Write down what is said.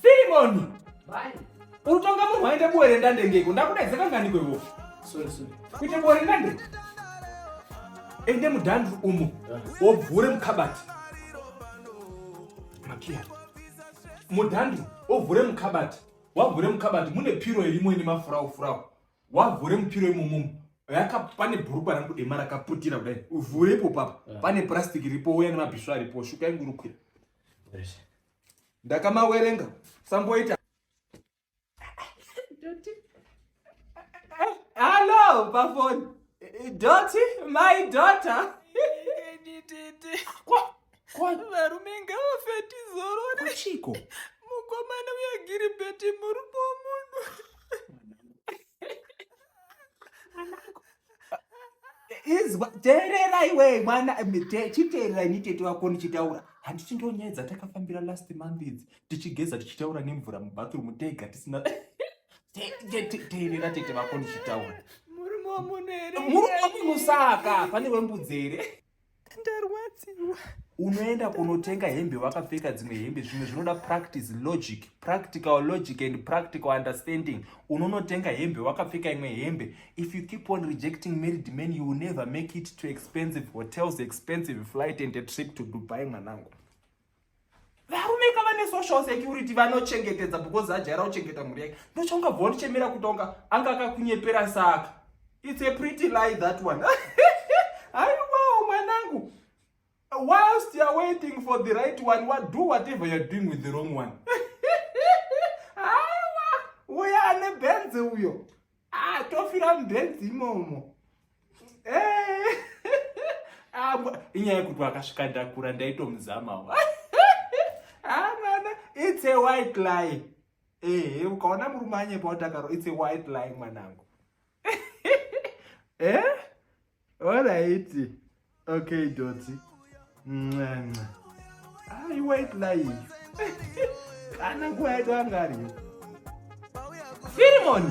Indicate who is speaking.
Speaker 1: Filimoni!
Speaker 2: Urutonga munhu
Speaker 1: waende buwere ndande ngeko ndakudaiza kangani kwevofu
Speaker 2: kuite buwere ndande
Speaker 1: ende mudhandru umo wobvure mukabati makiya mudhandru wovhure mukabati wavhure mukabati mune piro irimo ine mafurawu furawu wavhure mupiro imomomo yaka pane bhurukwa rangu dema rakaputira kudai uvhure ipo papa eh. pane purasitiki ripo uya nemabhiswa aripo shuka yangu rukwira ndakamawerenga samboita hallo pafoni doti my daughter varume
Speaker 3: ngavafeti zorore chiko
Speaker 1: mukomana
Speaker 3: uyagiri beti murume womunhu
Speaker 1: izwa teerera iwe mwana chiteerera ini tete wako ndichitaura handiti ndonyedza takafambira last month idzi tichigeza tichitaura nemvura mubathroom tega tisina teerera tete vako ndichitaura murume wamunhu
Speaker 3: here murume wamunhu saka
Speaker 1: pane wembudzi here ndarwadziwa
Speaker 3: unoenda
Speaker 1: kunotenga hembe wakapfeka dzimwe hembe zvimwe zvinoda practice logic practical logic and practical understanding unonotenga hembe wakapfeka imwe hembe if you keep on rejecting married men you will never make it to expensive hotels expensive flight and a trip to dubai mwanangu varume ka vane social security vanochengetedza because ajaira kuchengeta mhuri yake ndochongabva wandichemera kuti onga anga akakunyepera saka its a pretty lie that one aiwawo mwanangu whilst youare waiting for the right one wa do whatever youare doing with the wrong one aiwa uya ane benze uyo Ah, tofira mubenzi imomo. Eh. Ah, inyaya yekuti akasvika ndakura ndaitomuzamawo. Ah, mwana, it's a white lie. Eh, ukaona murume anyepa utakaro, it's a white lie mwanangu. eh? Alright. Okay, Dotty. Ncanca. Hayi white life. Kana nguva yedu angariyo. Firimoni.